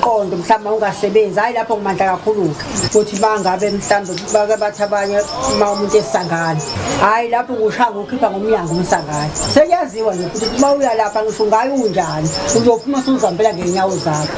umqondo mhlawumbe ungasebenzi hhayi lapho ngimandla kakhulu-ke ukuthi bangabe mhlawumbe bake bathi abanye uma umuntu esangane hhayi lapho kushaya ngokhipha ngomnyango umsangane sekuyaziwa nje futhi uma uya lapha ngisho ngayo unjani uzophuma suzihambela ngey'nyawo zakho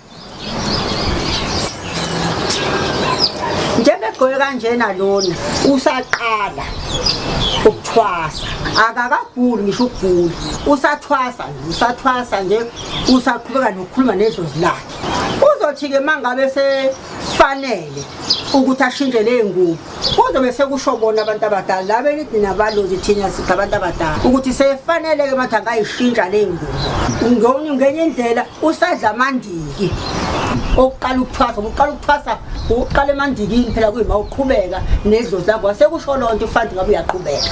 njengegqoke kanjena lona usaqala ukuthwasa akakaguli ngisho ukugula usathwasa usathwasa nje usaqhubeka nokukhuluma nedlozi lakhe uzothi-ke uma ngabe sefanele ukuthi ashintshe ley'ngubo kodwa bese kusho bona abantu abadala la benithi nabalozi thina sithi abantu abadala ukuthi sefanele-ke mathi angayishintsha le ngubo ngenye indlela usadla amandiki okuqala ukuthwasa uqala ukuthwasa uqala emandikini phela kuyima uqhubeka nedlozi lakho wasekusho loo nto ufanti ngabe uyaqhubeka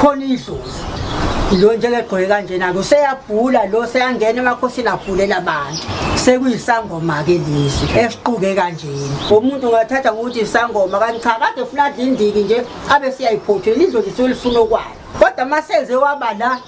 khona idlozi lo nje legqoke kanjena ke useyabhula lo seyangena emakhosini abhulela abantu sekuyisangoma ke lezi esiquke kanjena umuntu ungathatha ngokuthi isangoma kanti cha kade funa adlindiki nje abe siyayiphothela idlozi solifuna okwalo kodwa masenze waba la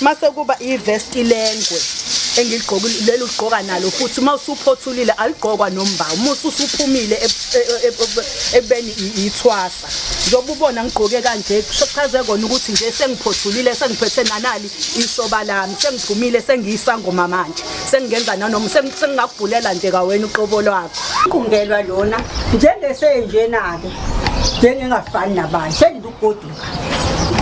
mase kuba ivest ilengwe engigqokile leli ugqoka nalo futhi uma usuphothulile aligqokwa nomba uma ususuphumile e, e, e, ekubeni ithwasa njengoba ubona ngigqoke kanje kuchaze kona ukuthi nje sengiphothulile sengiphethe nanali ishoba lami sengiphumile sengiyisangoma manje sengingenza nanoma sengingakubhulela nje kawena uqobo lwakho qungelwa lona njengesenjena-ke njengengafani nabanye sengilugoduka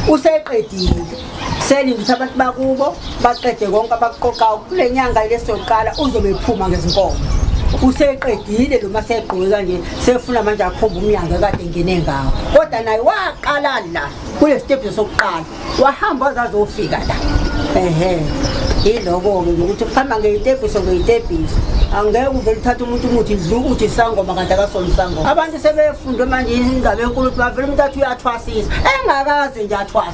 useqedile selinde ukuthi abantu bakubo baqede konke abakuqoqayo kule nyanga lesoqala uzobe ephuma ngezinkomo useqedile lo masegqoke kanje sefuna manje akhomba umnyango ekade ngene ngawo kodwa naye waqala la kule stephi sokuqala wahamba wazazofika la ehe yiloko-ke ngokuthi kuhamba ngeyitebhiso ngeyitebhiso angeke uvele uthathe umuntu umuthi dlu uthi sangoma kanti akasona isangoma abantu sebefundwe manje indaba enkulu ukuthi bavele umuntu athi uyathwasisa engakaze nje athwasa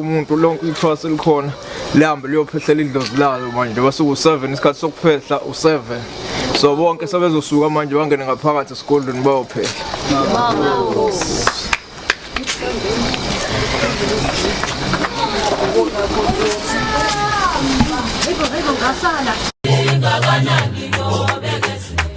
umuntu lonke ithwasa elikhona lihambe liyophehlela idlozi lalo manje basuke u-seven isikhathi sokuphehla u-seven so bonke sebezosuka manje bangene ngaphakathi esigodlweni bayophehla Engakanani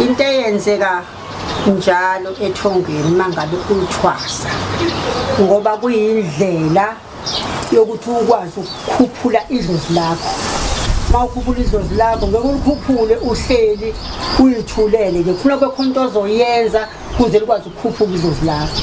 into eyenzeka njalo ethongweni mangabe uthwasa ngoba kuyindlela yokuthi ukwazi ukukhuphula idlozi lakho uma ukhuphula idlozi lakho ngeke ulikhuphule uhleli uyithulele ke khona kwekhona into ozoyenza kuze likwazi ukukhuphuka idlozi lakho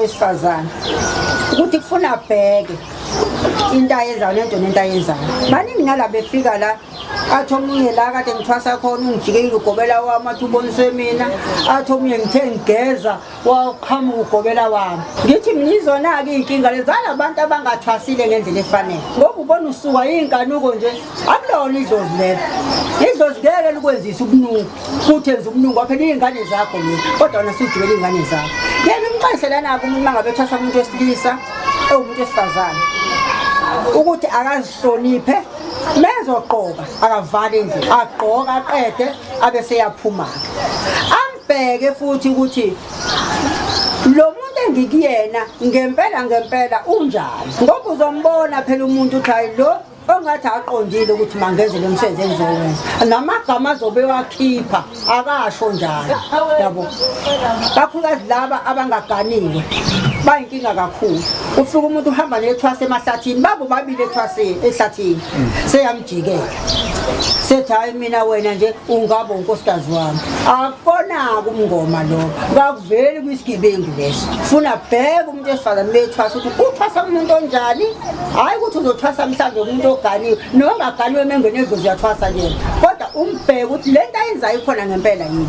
wesifazane ukuthi kufuna abheke into ayenzayo nento nento ayenzayo baningi nala befika la athi omunye la kade ngithwasa khona ungijikekile ugobela wami athi uboniswe mina athi omunye ngithe ngigeza waqhamuka ugobela wami ngithi mnizona-ke iy'nkinga lezala abantu abangathwasile ngendlela efanele ngoba ubona usuka yiy'nkanuko nje akulona idlozi lelo idlozi ngeke likwenzise ubunungu futhi enza ubunungu waphela iy'ngane zakho le kodwa wona sujubela iy'ngane zakho ngeke umxayiselanako umuntu mangabe ethwasa umuntu wesilisa ewumuntu esifazane ukuthi akazihloniphe mezogqoka akavali endlini agqoka aqede abe seyaphuma-ke Bheke futhi ukuthi lo muntu engikuyena ngempela ngempela unjani ngoba uzombona phela umuntu uthi hayi lo ongathi aqondile ukuthi mangenze lo msebenzi engizowenza namagama azobe wakhipha akasho njalo yabo kakhulukazi laba abangaganiwe bayinkinga kakhulu ufika umuntu uhamba nethwase emahlathini babo babili ethwaseni ehlathini jike sethi hayi mina wena nje ungaba unkosikazi wami akukonaka umngoma lo kakuveli kwisigebengu leso funa bheka umuntu esifazane bethwasa ukuthi uthwasa umuntu onjani hhayi ukuthi uzothwasa mhlawumbe umuntu oganiwe nongaganiwe emengweni edlozi uyathwasa kuyena kodwa umbheke ukuthi le nto ayenzayo ikhona ngempela yini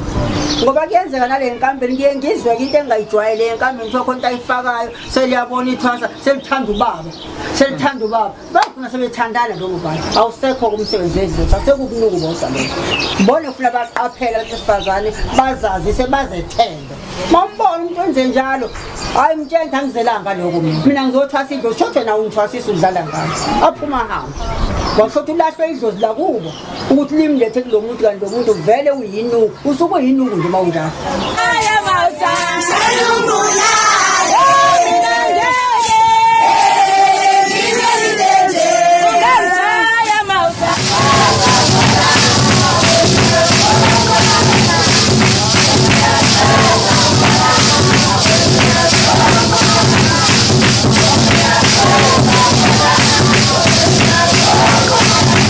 ngoba kuyenzeka nale nkampeni kuye ngizweke into engayijwayele enkampeni kuthiwa khona into ayifakayo seliyabona ithwasa selithanda ubaba selithanda ubaba bagcina sebethandana njengo bani awusekho kumsebenzi endlini sasekukunuku bodwa lokho ngibona ufuna baqaphele abantu besifazane bazazise bazethembe mambona umuntu wenze njalo hayi mtshentha angizelanga lokho mina ngizothwasa idlozi shothe nawo ungithwasisa udlala ngalo aphuma hamba washothi ulahlwe idlozi lakubo ukuthi limlethe kulo muntu kanti lo muntu vele uyinuku usuke uyinuku nje uma unjalo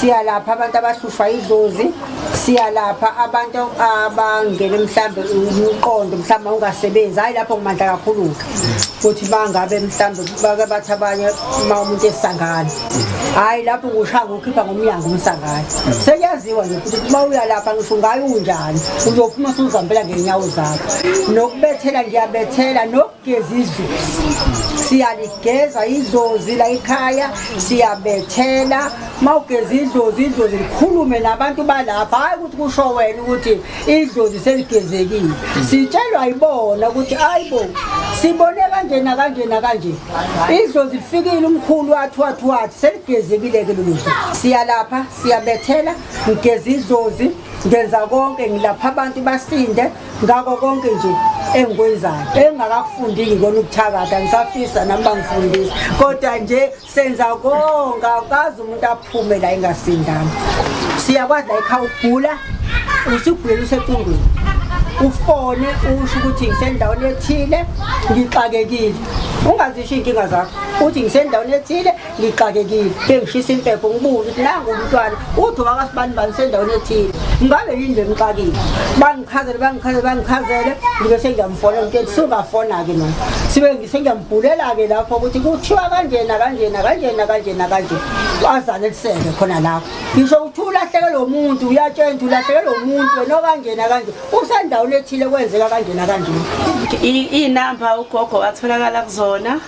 siyalapha abantu abahlushwa idlozi siyalapha abantu abangene mhlambe umqondo mhlawumbe ungasebenzi hhayi lapho ngimandla kakhulu-ke ukuthi bangabe mhlawumbe bake bathi abanye uma umuntu esangane hhayi lapho kushaya ngokhipha ngomnyango umsangane sekuyaziwa nje futhi uma uyalapha ngisho ngayo unjani uzophuma suzihambela ngey'nyawo zakho nokubethela ngiyabethela Geza idlozi siyaligeza idlozi la ekhaya siyabethela uma ugeza idlozi idlozi likhulume nabantu balapha hhayi ukuthi kusho wena ukuthi idlozi seligezekile sitshelwa yibona ukuthi hayi bo sibone kanje nakanje nakanje idlozi lifikile umkhulu wathi wathi wathi seligezekile-ke lolu dlozi siyalapha siyabethela ngigeza idlozi ngenza konke ngilapha abantu basinde ngako konke nje engikwenzayo engingakakufundiki ngikona ukuthakatha ngisafisa nami bangifundisa kodwa nje senza konke akazi umuntu aphume la engasindanga siyakwazi la ekhaya ukugula usugula usecungwini ufone usho ukuthi ngisendaweni ethile ngixakekile ungazisho iy'nkinga zakho uthi ngisendaweni ethile ngixakekile bengishisa impepho ngibuze ukuthi nangu umntwana uthi wakasibani bani sendaweni ethile ngabe yini le mxakile bangichazele bangichazele bangichazele ngibe sengiyamfonela ukuthi sungafona-ke mani sibe ngisengiyambhulela-ke lapho ukuthi kuthiwa kanjena kanjena kanjena kanjena kanje azaleliseke khona lapho ngisho ukuthi ulahleke lo muntu uyatshena ukuthi ulahleke lo muntu wena okanjena kanje usendaweni ethile kwenzeka kanjena kanjena iy'namba ugogo atholakala kuzona